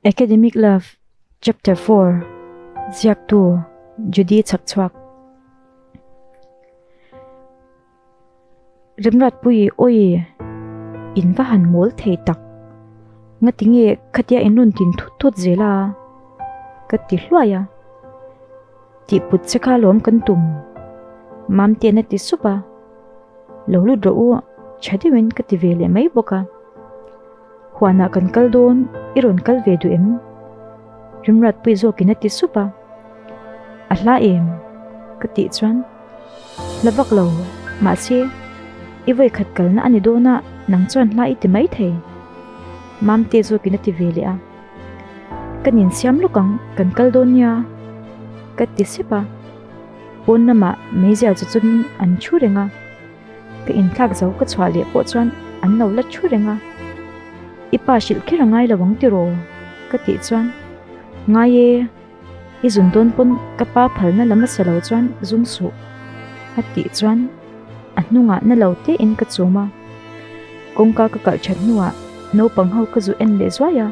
Academic Love, Chapter Four, Ziaktu, Judy Chak Chhuak. Remratpuii awi in va han mawl thei tak. Ngati nge khatia in rawn tin thut thut zel a, ka ti hluai a. Tih put che kha lawm kan tum. Mamtian a ti sup a, Lo lut rawh u, chha deuhin ka ti ve leh mai bawk a. Huanah kan kal dawn, i rawn kal ve duh em? Rimratpui zawkin a ti sup a. A hla em? ka tih chuan, Hla vak lo, mahse, i vawikhat kalna a ni dawn a, nang chuan hla i ti mai thei. Mamte zawkin a ti ve leh a. Kan insiam lawk ang, kan kal dawn nia ka ti sep a, pawn lamah Meizia chu chungin an thu reng a, ka inthlak zo ka chhuah leh pawh chuan an lo la thu reng a, i pa hrilh kher a ngai lo ang tiraw ka tih chuan ngai e, I zun dawn pawn ka pa phalna lam a sa lo chuan zum suh a tih chuan a hnungah na lo teh in ka chum a, kawngka ka kalh that hnuah naupang ho ka zu en leh zuai a,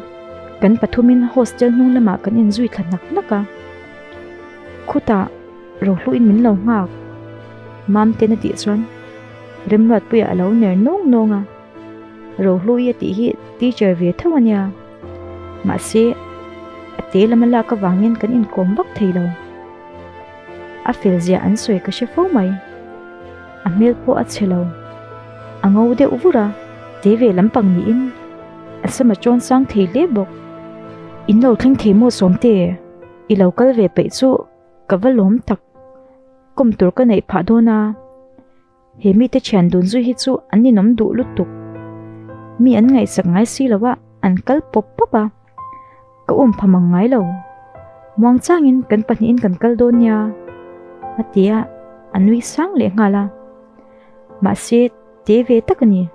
kan pathumin hostel hnung lamah kan in zui thla hnak hnak a, khutah ro hluh in min lo nghak Mamten a tih chuan Remruatpuia a lo ner nawng nawng a, Ro hlu i a tih hi teacher ve tho a nia. Mahse, a te lama lak avangin kan inkawm bak thei lo. A felzia an sawi ka hre fo mai. A hmel pawh a chhe lo. A ngo deuh vur a, te ve lampang niin a sam a chawn sang thei hle bawk. In lo thleng thei maw Sawmte? I lo kal ve peih chu ka va lawm tak. Kawm tur ka neih phah dawn a. He mite thian dun zui hi chu an ninawm duh lutuk. Mi an ngaihsak ngai si lo a, an kal pawp pawp a. Ka um pha mang ngai lo. Muangchangin kan pahnihin kan kal dawn nia, a ti a, a nui sang leh nghal a. Mahse, te ve tak a ni.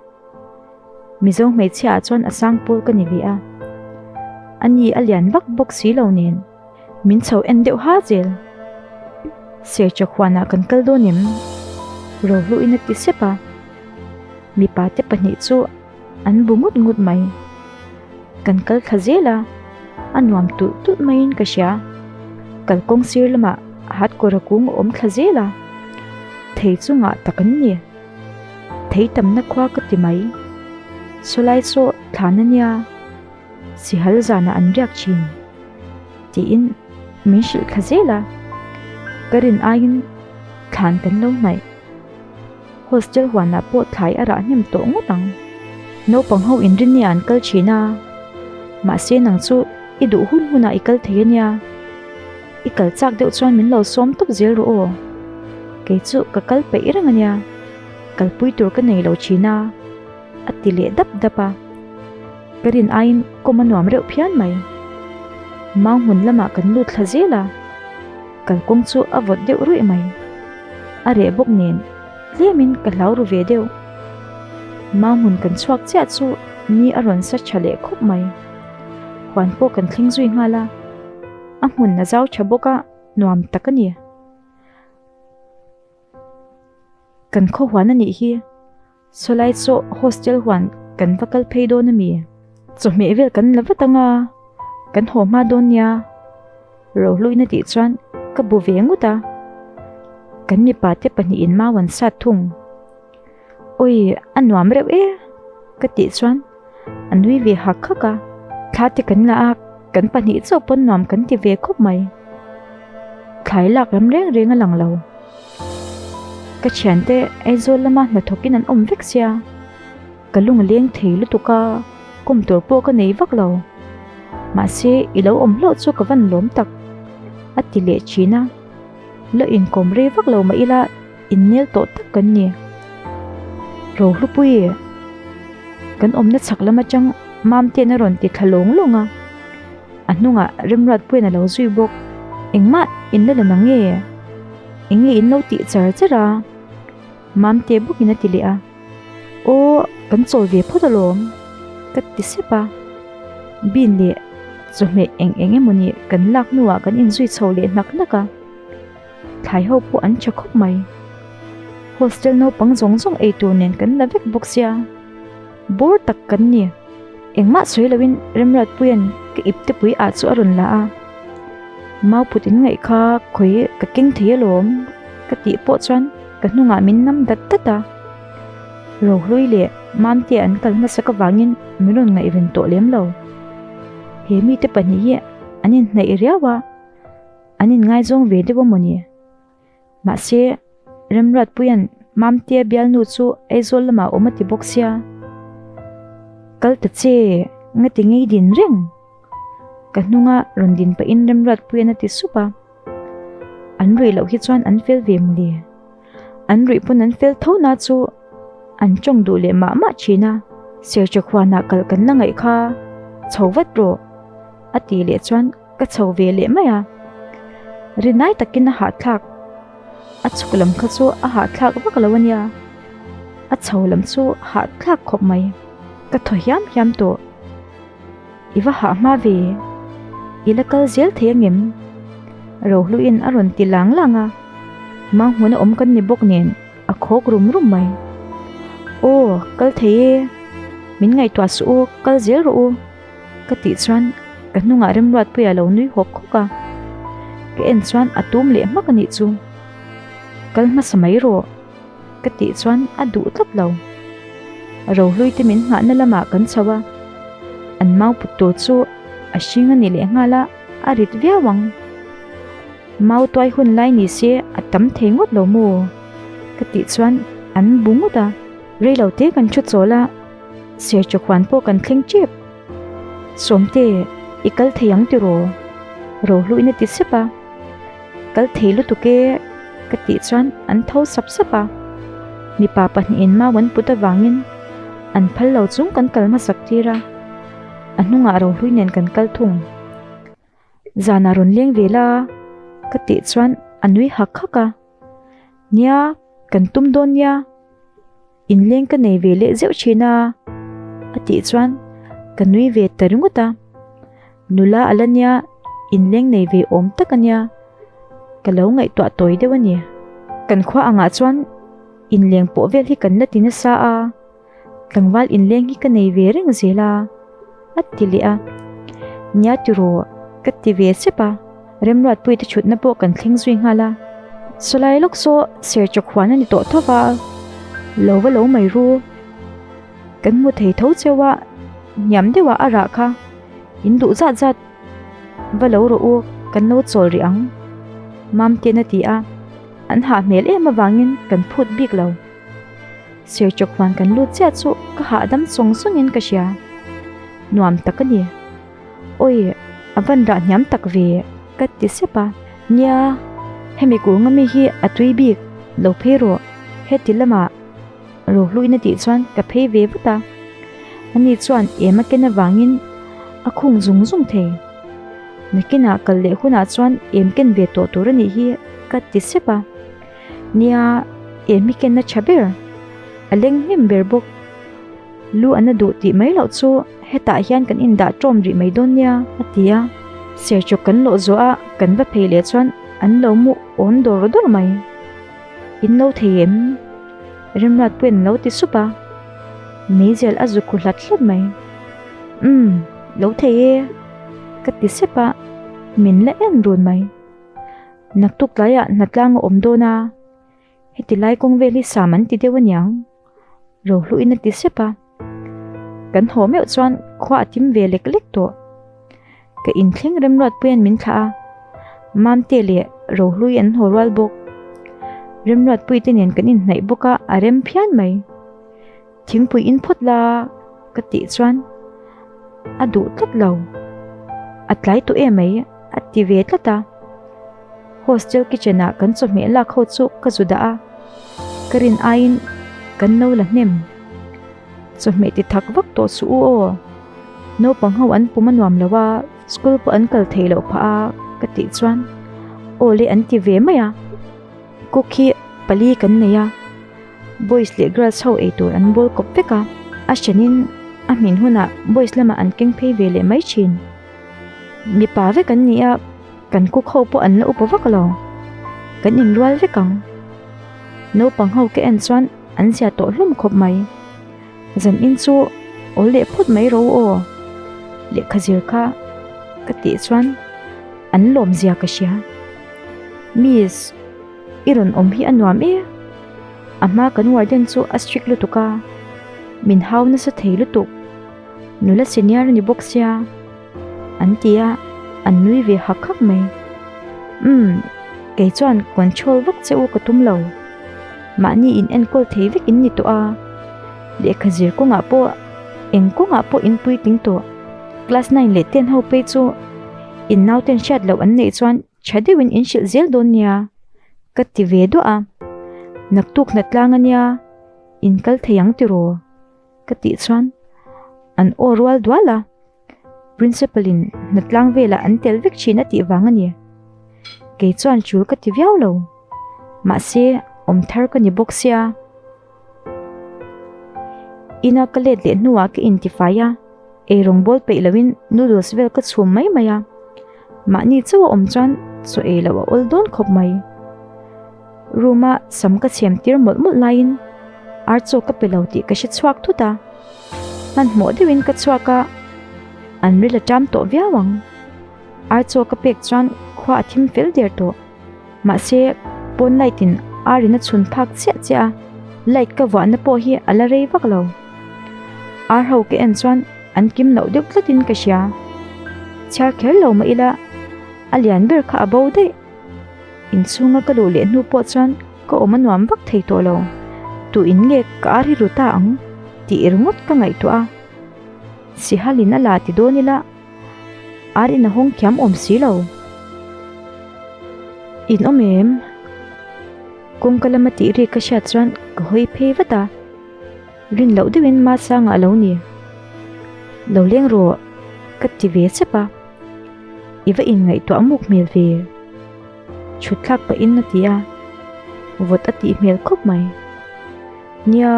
Mizo hmeichhia ah chuan a sang pawl ka ni ve a. A ni a lian bawk bawk si lo nen. Min chho en deuh ha zel. Sercha khuanah kan kal dawn em? Rohluin a ti sep a. Mipa te pahnih chu an bu ngut ngut mai. Kan kal thla zel a, a nuam tulh tulh maiin ka hria. Kalkawng sir lamah hardcore a kung a awm thla zel a. Thei chu ngah tak an ni. Thei tamna khua ka ti mai. Sawlai sawh thlan a nia. Sihal zanah an riak thin tiin min hrilh thla zel a, ka rin aiin thlan kan lo hnaih. Hostel huanah pawh thlai a rah hnem tawh ngawt ang. Naupang ho inrin nge an kal thin a, mahse nang chu i duh hun hunah i kal thei ania, i kal chak deuh chuan min lo sawm tawp zel rawh aw. Kei chu ka kal peih reng ania, kalpui tur ka nei lo thin a. a ti leh dap dap a, ka rin aiin kawm a nuam reuh phian mai. Mau hmun lamah kan lut thla zel a, kalkawng chu a vawt deuh ruih mai. A reh bawk nen tlemin ka hlau ru ve deuh. Mau hmun kan chhuak chiah chu ni a rawn sa tha leh khawp mai. Huan pawh kan thleng zui nghal a, a hmun a zau tha bawk a, nuam tak a ni. Kan khaw huan a nih hi. Chawlai chu hostel huan kan va kal phei dawn a mi? Chawhmeh vel kan la vat anga kan haw hma dawn nia ro hluina tih chuan ka bu ve ngut a. Kan mipa te pahnih in mau an sat thung. Awii a nuam reuh e ka tih chuan. a nui ve hak hak a, thla te kan la a, kan pahnih chauh pawn nuam kan ti ve khawp mai. Thlai lak lam reng reng a lang lo. Ka thian te Aizawl lama hnathawk in an awm vek sia. Ka lung leng thei lutuk a, kum tur pawh ka nei vak lo. Mahse i lo awm hlauh chu ka van lawm tak a ti leh thin a. Loh inkawm rei vak lo mah ila. inmel tawh tak kan ni rohlupui kan awmna chak lam atang mamten a rawn ti thla lawng lawng a a hnungah remruat puiin a lo zui bawk engmah in la lan ange eng nge in lo tih char char a mamte bukin a ti leh a aw kan chawl ve phawt alawm ka ti sep a bin leh chawhmeh eng eng emaw ni kan lak hnuah kan in zui chho leh hnak hnak a. Thlai ho pawh an tha khawp mai. Hostel naupang zawng zawng ei tur nen kan la vek bawk sia. Bawr tak kan ni. Engmah sawi loin Remratpuia'n ka iptepui ah chu a rawn la a. Mau phut in ngaih kha khawi ka keng thei alawm ka tih pawh chuan ka hnungah min nam dat dat a. Rohlui leh Mamtea an kal hmasa ka vangin min rawn ngaih ven tawh lem lo. He mite pahnih hi an inhnaih riau a. an inngaizawng ve deuh a maw ni? Mahse, Remruatpuia'n Mamtea bialnu chu Aizawl lamah a awm a ti bawk sia. Kal ta che, nga ti ngei din reng. Ka hnunga rawn din pahin Remruatpuia'n a ti sup a, An ruih loh hi chuan an fel ve maw le? an ruih pawn an fel tho na chu an tawng duh leh mah mah thin a, Sertha khuana kal kan la ngaih kha chho vat rawh a tih leh chuan ka chho ve leh mai a, rinai takin a hahthlak a chhuk lam kha chu a hahthlak vak lo a nia, a chho lam chu hahthlak khawp mai ka thaw hiam hiam tawh. I va hah hma ve, i la kal zel thei angem? Rohluin a rawn ti lang lang a, mah hmun a awm kan ni bawk nen a khawk rum rum mai. Aw, kal thei e, min ngaihtuah suh u, kal zel rawh u, ka tih chuan ka hnungah Remruatpuia lo nui hawk hawk a. Ka en chuan a tum leh hmak a nih chu, kal hmasa mai rawh. Ka tih chuan a duh tlat lo. Rohlui te min nghahna lamah kan chho a, an mau put tur chu a hring a nih leh nghal a, a rit viau ang. Mau tuai hun lai ni se a tam thei ngawt lo maw? Ka tih chuan an bu ngawt a. Reilo te kan thu chawl a, Serthu khuan pawh kan thleng tep. Sawmte, i kal thei ang tiraw? Rohluina ti sep a. Kal thei lutuk e ka tih chuan an tho sap sap a, mipa pahnih in mau an put avangin an phal lo chung kan kal hmasak tir a, a hnungah rohlui nen kan kal thung. Zan a rawn leng ve la ka tih chuan a nui hak hak a, nia kan tum dawn nia. Inleng ka nei ve leh zeuh thin a, a tih chuan ka nui ve ta ringawt a. Nula a la nia, inleng nei ve awm tak a nia, ka lo ngaihtuah tawi deuh a ni. Kan khua angah chuan inleng pawh vel hi kan la ti nasa a, tlangval inleng hi ka nei ve reng zel a. a ti leh a, Nia tiraw ka ti ve sep a, Remruatpuii te thutna pawh kan thleng zui nghal a, Sawlai lawk saw serchawk huan a ni tawh tho va, lo va lo mai ru, kan hmu thei tho cheu a, hniam deuh ah a rah kha, in duh zat zat va lo rawh u, kan lo chawl rih ang, Mamtiana ti a, an hah hmel em avangin kan phut bik lo. Serchawk hman kan lut chiah chu ka hahdam sawng sawngin ka hria. Nuam tak a ni. Awi, a van rah hniam tak ve, ka ti sep a. Nia, hemi kûnga mi hi a tui bik, lo phei rawh, heti lamah ro hluin a tih chuan ka phei ve vat a. Ani chuan êma ken avangin a khung zung zung thei. Nakina kal leh hunah chuan êm ken ve tawh tur a nih hi, ka ti sep a. Nia em hi kenna tha ber, a leng hnem ber bawk. Lu an la duh tih mai loh chu hetah hian kan indah tawm rih mai dawn nia a ti a. Serchawk kan lawh zawh a, kan va phei leh chuan an lo mu awn dawr dawr mai. In lo thei em? Remruat pawhin a lo ti sup a, Meizel a zu khu hlat hlat mai. Umm, lo thei e, ka ti sep a, min la en run mai. Naktuk tlaiah hnatlang a awm dawn a, heti lai kawng vel hi sam an ti deuh aniang, rohluin a ti sep a. Kan haw meuh chuan khua a tim ve lek lek tawh. Ka inthleng Remruat puiin min thlah a, Mamte leh Rohlui an haw rual bawk. Remruat puite nen kan inhnaih bawk a, a rem phian mai. Thingpui in phawt la ka tih chuan a duh tlat lo. A tlai tu e mai a ti ve tlat a. Hostel kitchen ah kan chawhmeh lak ho chu ka zu dah a, ka rin aiin kan no la hnem. Chawhmeh ti thak vak tawh chu u aw. Naupang ho an pum a nuam lo a, school pawh an kal thei loh phah a ka tih chuan aw le an ti ve mai a. Cook hi pali kan nei a. Boys leh girls ho ei tur an bawl kawp vek a, a hrenin a hmin hunah boys lamah an keng phei ve leh mai thin. Mipa vek an ni a, kan cook ho pawh an la upa vak lo. Kan inrual vek ang. Naupang ho ka en chuan an zia tawh hlawm khawp mai. Zan in chu aw leh phawt mai ro aw. Lehkha zir kha ka tih chuan an lawm zia ka hria. Miss. I rawn awm hi a nuam e. A hma kan warden chu a strict lutuk a, min hau nasa thei lutuk. Nula senior a ni bawk sia, an ti a, an nui ve hak hak mai. Umm, kei chuan control vak che u ka tum lo. Mahni in enkawl thei vek in ni tawh a, lehkha zir kawngah pawh, eng kawngah pawh in puitling tawh. Class nine leh ten ho phei chu in naute an hriat loh an neih chuan Tha deuhin in hrilh zel dawn nia ka ti ve duah a, naktuk hnat tlang ania in kal thei ang tiraw ka tih chuan an aw rual dual a, Principal in hnat tlang velah an tel vek thin a tih vang a ni. Kei chuan chul ka ti viau lo, mahse awm thar ka ni bawk sia. Ina ka let leh hnuah ka intifai a, eirawn bawl peih lohin noodles vel ka chhum mai mai a. Mahni chauh a awm chuan chaw ei loh a awl dawn khawp mai. Room a sam ka chhem tir mawlh mawlh laiin ar chaw ka pe lo tih ka hre chhuak thut a. Hmanhmawh deuhin ka chhuak a, an rel a ṭam tawh viau ang. Ar chaw ka pek chuan khua a thim fel der tawh. Mahse, pawn light in Arina chhun phak chiah chiah a, light ka vuahna pawh hi a la rei vak lo. Arho ka en chuan an kim loh deuh tlatin ka hria. Chhiar kher lo mah ila a lian ber kha a bo daih. Inchhunga ka luh leh hnu pawh chuan ka awm a nuam vak thei tawh lo. Tuin nge ka ar hi ru ta ang tih ringawt ka ngaihtuah a. Sihalin a la ti dawn ila Ar in a hawng thiam awm si lo. In awm em? Kawngka lam a tih ri ka hriat chuan ka hawi phei vat a. Rin loh deuh in Mahsanga lo ni. Lo leng rawh ka ti ve sep a. I va inngaihtuah muk hmel ve. Thutthlak pahin a ti a, vawt a tih hmel khawp mai. Nia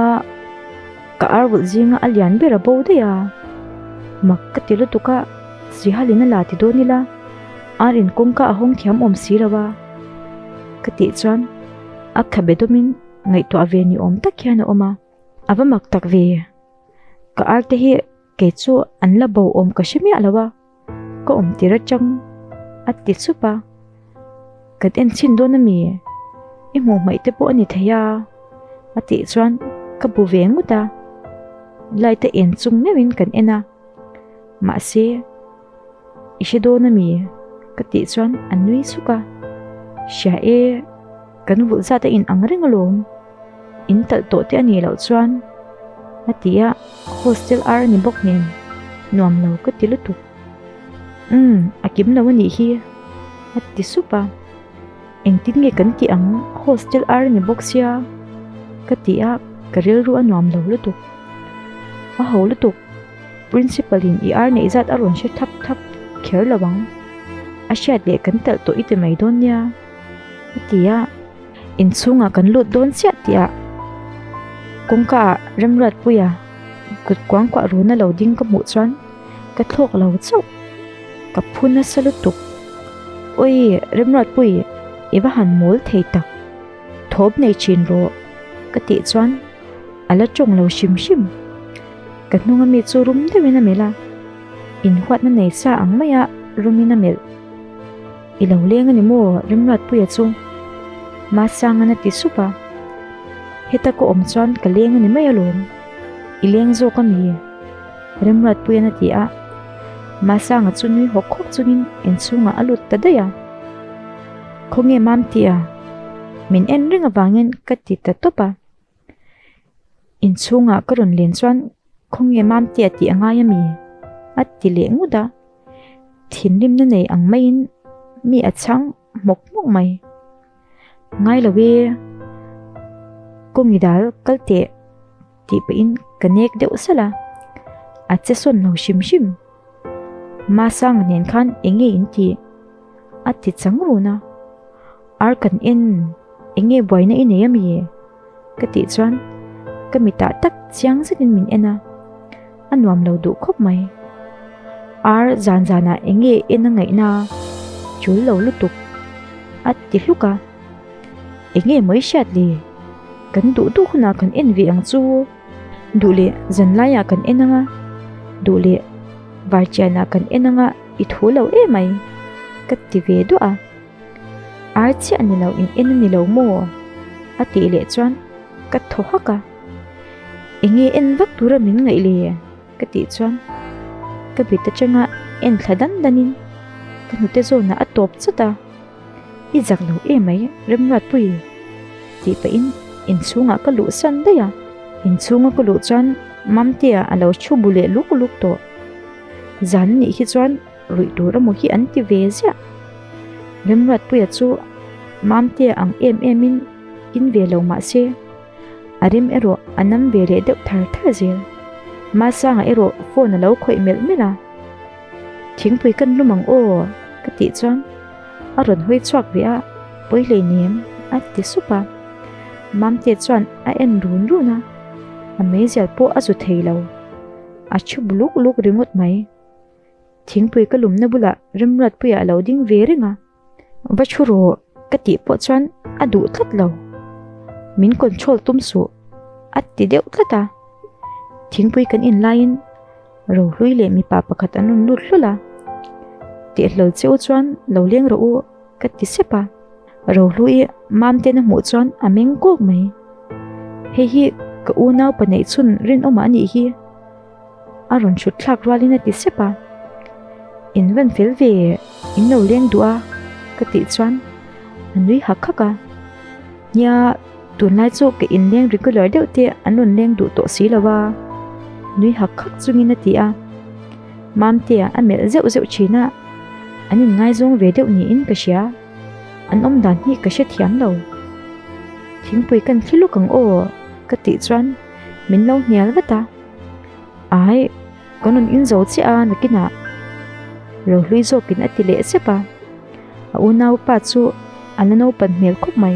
ka arvulh zinga a lian ber a bo daih a, mak ka ti lutuk a, Srihalina la ti dawn ila, ar in kawngka a hawng thiam awm si lo a, ka tih chuan a kha be dawmin ngaihtuah ve ni awm tak hian a awm a. A va mak tak ve, ka arte hi kei chu an la bo awm ka hre miah lo a. Ka awm tir atang, a ti sup a. Kan en chin dawn a mi? I hmuhmaih te pawh a ni thei a, a tih chuan ka bu ve ngut a. Light a en chung meuhin kan en a, mahse i hre dawn a mi? Ka tih chuan a nui suk a. Hria e, kan vulh zat a inang reng alawm. In talh tawh te a nih loh chuan a ti a, hostel ar a ni bawk nen nuam lo ka ti lutuk. Umm, a kim lo a nih hi a ti sup a, engtin nge kan tih ang hostel ar a ni bawk sia ka ti a, ka rilru a nuam lo lutuk. A ho lutuk, Principal in i ar neih zat a rawn hre thap thap kher lo ang, a hriat leh kan talh tawh i ti mai dawn nia a ti a. inchhungah kan lut dawn chiah tih a kawngka ah Remruatpuia kut kuang kuah run a lo ding ka hmuh chuan ka thlawk lo chauh ka phu nasa lutuk awi Remruatpui i va han mawl thei tak thawp nei thin rawh ka tih chuan a la tawng lo hrim hrim ka hnunga mi chu rum deuhin a melh a inhuatna nei sa ang mai a rumin a melh. I lo leng a ni maw Rimruatpuia chu Masanga na ti sup a, heta ka awm chuan ka leng a ni mai alawm, i leng zawk a ni, Rimruatpuia na ti a, Masanga chu nui hawk hawk chungin in chhungah a lut ta daih a, Khawnge mam tia min en reng avangin ka ti ta tawp a. Inchhungah ka rawn len chuan khawnge mamte a tih a ngai ami? A ti leh ngut a, thinrimna nei ang maiin mi a chhang hmawk hmawk mai. Ngai lo e, kawng i dal kal teh tih pahin ka nek deuh sal a, a che sawn lo hrim hrim. Masanga nen khan enge in tih? A ti chang run a. Ar kan en, enge buaina i nei a mi e? ka tih chuan ka mitah tak chiang zetin min en a, a nuam lo duh khawp mai. Ar zan zanah enge en a ngaihna a chul lo lutuk a ti hluk a, enge mawi hriat le kan duh duh hunah kan en ve ang chu, duh leh zan laiah kan en anga, duh leh var chianah kan en anga i thu lo e mai ka ti ve duah a. Ar chiah ni lo in en a ni lo maw? a tih leh chuan ka thaw hak a, enge en vak tura min ngaih le? ka tih chuan ka bit atanga en thla dan danin ka hnute zawnah a tawp chawt a, i zak lo e mai Remruatpuii tih pahin inchhungah ka luh san daih a. Inchhunga ka luh chuan Mamtea a lo thu bu leh luk luk tawh, zan nih hi chuan Ruih tur emaw hi an ti ve ziah. Remruatpuia chu Mamtea ang em emin in ve lo mah se, a rem erawh a nam ve leh deuh thar thar zel. Masanga erawh phone a lo khawih melh melh a. Thingpui kan lum ang aw ka tih chuan a rawn hawi chhuak ve a, pawi hlei nem a ti sup a. Mamtea chuan a en run run a, a meizial pawh a zu thei lo. A ṭhu buluk buluk ringawt mai. Thingpui ka lumna bulah Remruatpuia a lo ding ve reng a. Va thu rawh ka tih pawh chuan a duh tlat lo. Min control tum suh a ti deuh tlat a. Thingpui kan in laiin Rohlui leh mipa pakhat an rawn lut hlul a. Tihlawl che u chuan lo leng rawh u ka ti sep a. Rohlui Mamten a hmuh chuan a meng kawk mai. Hei hi ka unau pa neih chhun rinawmah a nih hi. A rawn chhut thlak rualin a ti sep a, In van fel ve in lo leng duh a ka tih chuan a nui hak hak a, Nia tunlai chu ka inleng regular deuh te an rawn leng duh tawh si lo a, nui hak hak chungin a ti a, Mamtea a melh zeuh zeuh thin a, an inngaizawn ve deuh niin ka hria, an awmdan hi ka hre thiam lo, thingpui kan thli lawk ang aw ka tih chuan min lo hnial vat a. Ai, ka nun in zo chiah a nakinah lo hlui zawkin a ti leh zep a. A unaupa chu a la naupan hmel khawp mai.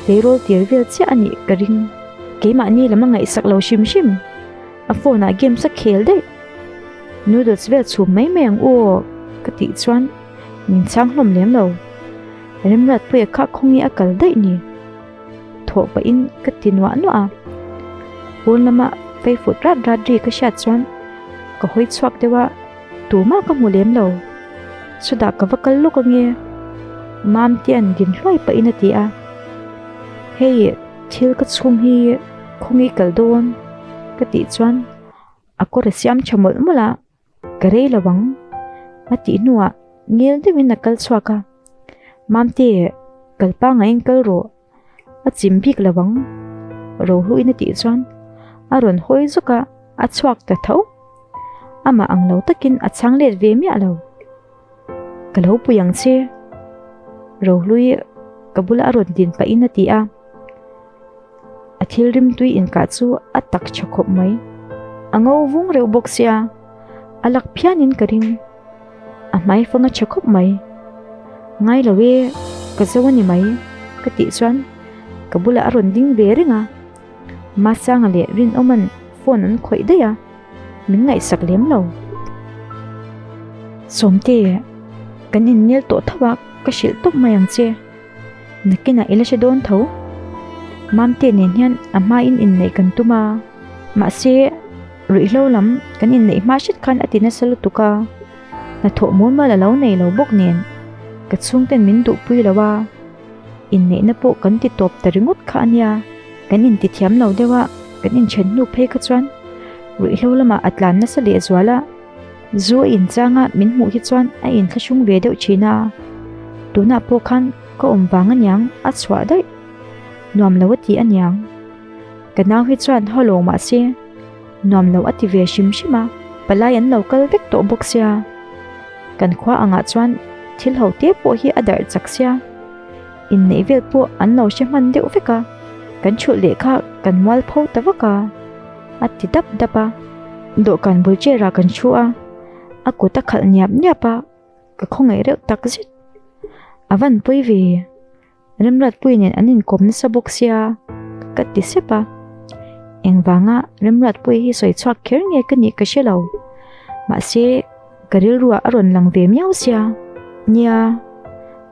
Keirawlh tir vel chiah a nih ka ring. Keimahni lam a ngaihsak lo hrim hrim. A phone ah games a khel daih. Noodles vel chhum mai mai ang u aw ka tih chuan min chhang hlawm lem lo. Remrat pawh e kha khawnge a kal daih ni. thawh pahin ka ti nuah nuah a, pawn lama feifawt rat rat ri ka hriat chuan ka hawi chhuak deuh a, tumah ka hmu lem lo, chutah ka va kal lawk ange, Mamtia'n din hluai pahin a ti a, hei thil ka chhung hi khawngi kal dawn ka tih chuan a kawr a siam tha mawlh mawlh a. Ka rei lo ang. A tih hnuah ngel deuhin a kal chhuak a, Mamte, kal panga eng kal rawh. A chim bik lo ang. Rohluin a tih chuan a rawn hawi zawk a, a chhuak ta tho. Amah ang lo takin a chhang let ve miah lo. Ka lo pui ang che. Rohlui ka bula a rawn din pah in a ti a. A thil rim tui in kah chu a tak tha khawp mai. A ngo vung reuh bawk che a. A lak phian in ka ring. A hmai fanga tha khawp mai. Ngai lo e, ka zo a ni mai ka tih chuan ka bula a rawn ding ve reng a. Masanga leh Rinawman phone an khawih daih a. Min ngaihsak lem lo. Sawmte, kan inmel tawh tho a, ka hrilh tawp mai ang che. Nakinah i la hre dawn tho. Mamte nen hian a hmain inneih kan tum a, mahse ruihhlo lam kan inneih hma hret khan a ti nasa lutuk a. Hnathawh mualmual a lo nei lo bawk nen ka chhungten min duhpui lo a. Inneihna pawh kan ti tawp ta ringawt kha a nia, kan inti thiam lo deuh a, kan inthen hnu phei kha chuan ruihhlo lamah a tlan nasa lehzual a, zu a inchang a min hmuh hi chuan a inthlahrung ve deuh thin a, tunah pawh khan ka awm vang aniang a chhuah daih nuam lo a ti aniang. Ka nau hi chuan haw lo mah se. Nuam lo a ti ve hrim hrim a, palai an lo kal vek tawh bawk sia. Kan khua angah chuan thil ho te pawh hi a darh chak sia. Inneih vel pawh an lo hre hman deuh vek a, kan chhulh leh kha kan mual pho ta vak a, a ti dap dap a. Dawhkan bul chair ah kan thu a, a kut a khalh niap niap a, ka khawngaih reuh tak zet. A van pawi ve. Remratpuii nen an inkawm nasa bawk sia ka ti sep a, engvanga Remratpuii hi sawi chhuak kher nge ka nih ka hre lo, mahse ka rilruah a rawn lang ve miau sia nia,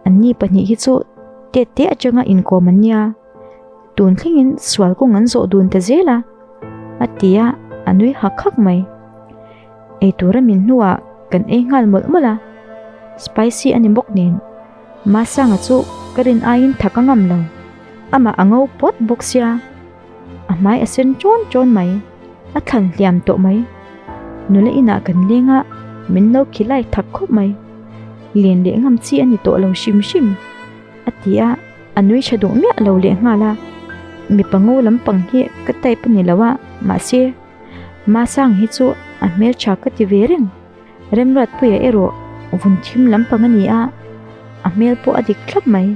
an ni pahnih hi chu te te atanga inkawm an nia, tun thlengin sual kawng an zawh dun ta zel a, a ti a, a nui hak hak mai. Eitura min hnuah kan ei nghal mawlh mawlh a, spicy a ni bawk nen. Masanga chu ka rin aiin tha ka ngam lo. Amah a ngo pawt bawk sia. A hmai a sen ṭawn ṭawn mai. A thlan hliam tawh mai. Nula inah kan leng a, min lo khi lai thak khawp mai. Lian leh ngam chi a ni tawh lo hrim hrim, a ti a, a nui ṭha duh miah lo leh nghal a. Mipa ngo lampang hi ka type a ni lo a, mahse, Masanga hi chu a hmelṭha ka ti ve reng. Remratpuia erawh vun thim lampang a ni a, a hmel pawh a dik thlap mai.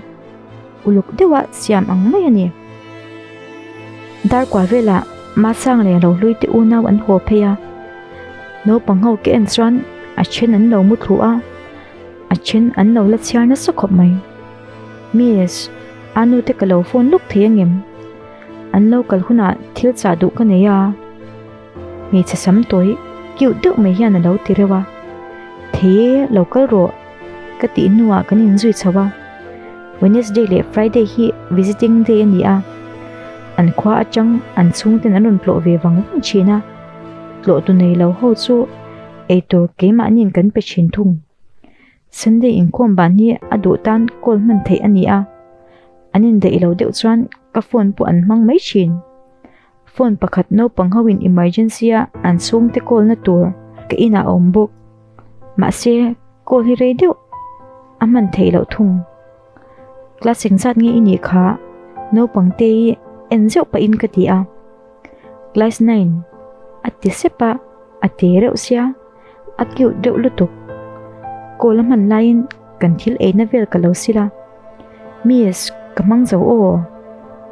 Uluk deuha siam ang mai a ni. Darkua velah Masang leh Lohluite unau an haw phei a, naupang ho ka en chuan a then an lo mu thluh a, a then an lo la chhiar nasa khawp mai. Miss, aa nute ka lo phone lawk thei angem? An lo kal hunah thil chah duh ka nei a. Hmeichhe sam tawi cute deuh mai hian a lo ti reuh a, Thei e, lo kal rawh, ka tih hnuah kan inzui chho a, Wednesday leh Friday hi visiting day a ni a, an khua atang an chhungten an rawn tlawh ve vang vang thin a, tlawh tu nei lo ho chu eitur keimahniin kan pe thin thung. Sunday inkawm ban hi a duh tan call hman theih a ni a, an indaih lo deuh chuan ka phone pawh an hmang mai thin. Phone pakhat naupang ho in emergency a an chhung te call na tur ka in ah a awm bawk. Mahse call hi rei deuh a hman theih loh thung. Class eng zat nge i nih kha naupang te i en zeuh pah in ka ti a. Class nine a ti sep a a te reuh sia. A cute deuh lutuk. Call a hman laiin kan thil eina vel ka lo sil a. Miss, ka hmang zo aw.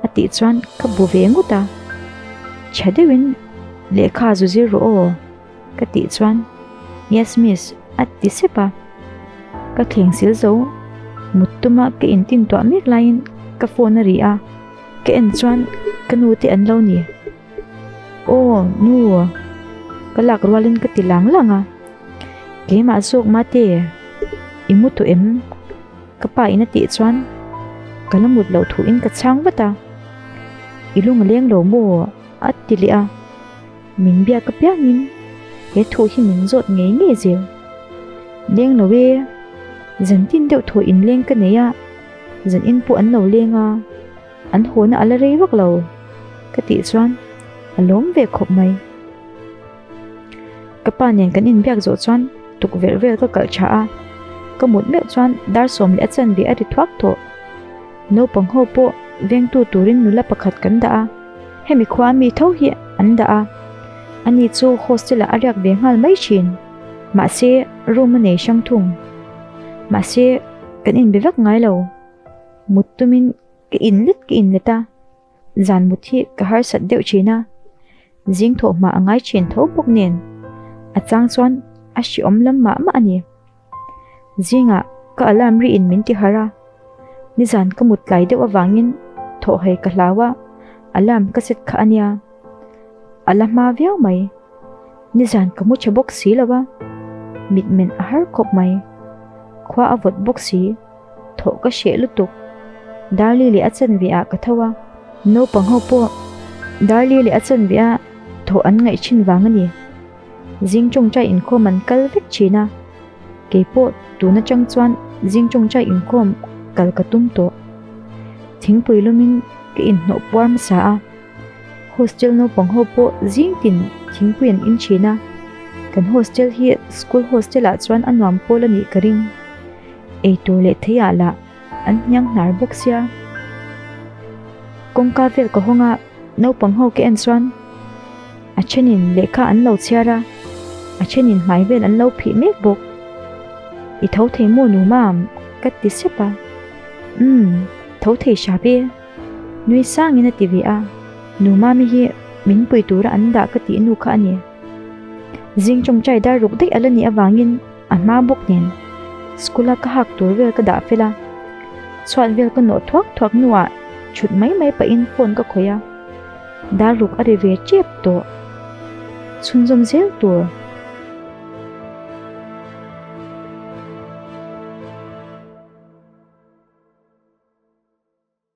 A tih chuan ka bu ve ngut a. Chhe deuhin, Lehkha zu zir rawh aw. Ka tih chuan, Yes miss, a ti sep a. Ka thleng sil zo. Mut tuma ka in tintuah mek laiin ka phone a ri a. Ka en chuan ka nute an lo ni. Aw nu, ka lak rualin ka ti lang lang a, keimah zawk mahte i mu tawh em? Ka pa in a tih chuan ka la mut loh thuin ka chhang vat a, i lung a leng lo maw? a ti leh a, min biak apiangin he thu hi min zawt ngei ngei zir. Leng lo e, zan tin deuh thaw in leng ka nei a, zan in pawh an lo leng a. An hawn a la rei vak lo ka tih chuan a lawm ve khawp mai. Ka pa nen kan in biak zawh chuan tukverh vel ka kalh tha a, ka mut meuh chuan Darsawm leh a chanve a ri thuak tawh. Naupang ho pawh vengtu turin nula pakhat kan dah a, hemi khua a mi tho hi an dah a, ani chu hostel ah a riak ve nghal mai thin. Mahse room a nei hrang thung. Mahse kan in be vak ngai lo. mut tumin ka in let ka in let a, zan mut hi ka harsat deuh thin a, zingthawh hma a ngai thin tho bawk nen a chang chuan a hri awm lam mah mah a ni. Zingah ka alarm ri in min tihar a, nizan ka mut tlai deuh avangin thawh hei ka hlau a, alarm ka set kha a nia. A la hma viau mai. Nizan ka mu che bawk si lo a, mitmen a har khawp mai. Khua a vawt bawk si, thawh ka hreh lutuk. Darlie leh a chanve ah ka tho a, naupang ho pawh Darlie leh a chanve ah thawh an ngaih thin vang a ni. Zing tawngtai inkhawm an kal vek thin a, kei pawh tun atang chuan zing tawngtai inkhawm kal ka tum tawh. Thingpui lumin ka inhnawh puar hmasa a. Hostel naupang ho pawh zing tin thingpui an in thin a, kan hostel hi school hostel ah chuan a nuam pawl a nih ka ring. Eitur leh theia lah an hniang hnar bawk sia. Kawngka vel ka hawng a, naupang ho ka en chuan a thenin lehkha an lo chhiar a, a thenin hmai vel an lo phih mek bawk. I tho thei maw nu mam? ka ti sep a. Umm, tho thei hram e. Nui sangin a ti ve a, Nu Mami hi min pui tura an dah ka tih nu kha a ni. Zing tawngtai dar ruk daih a la nih avangin a hma bawk nen, School-a ka hak tur vel ka dah fel a. Chhuat vel ka nawh thuak thuak hnuah chhut mai mai pahin phone ka khawih a, dar ruk a ri ve tep tawh. Chhunzawm zel tur.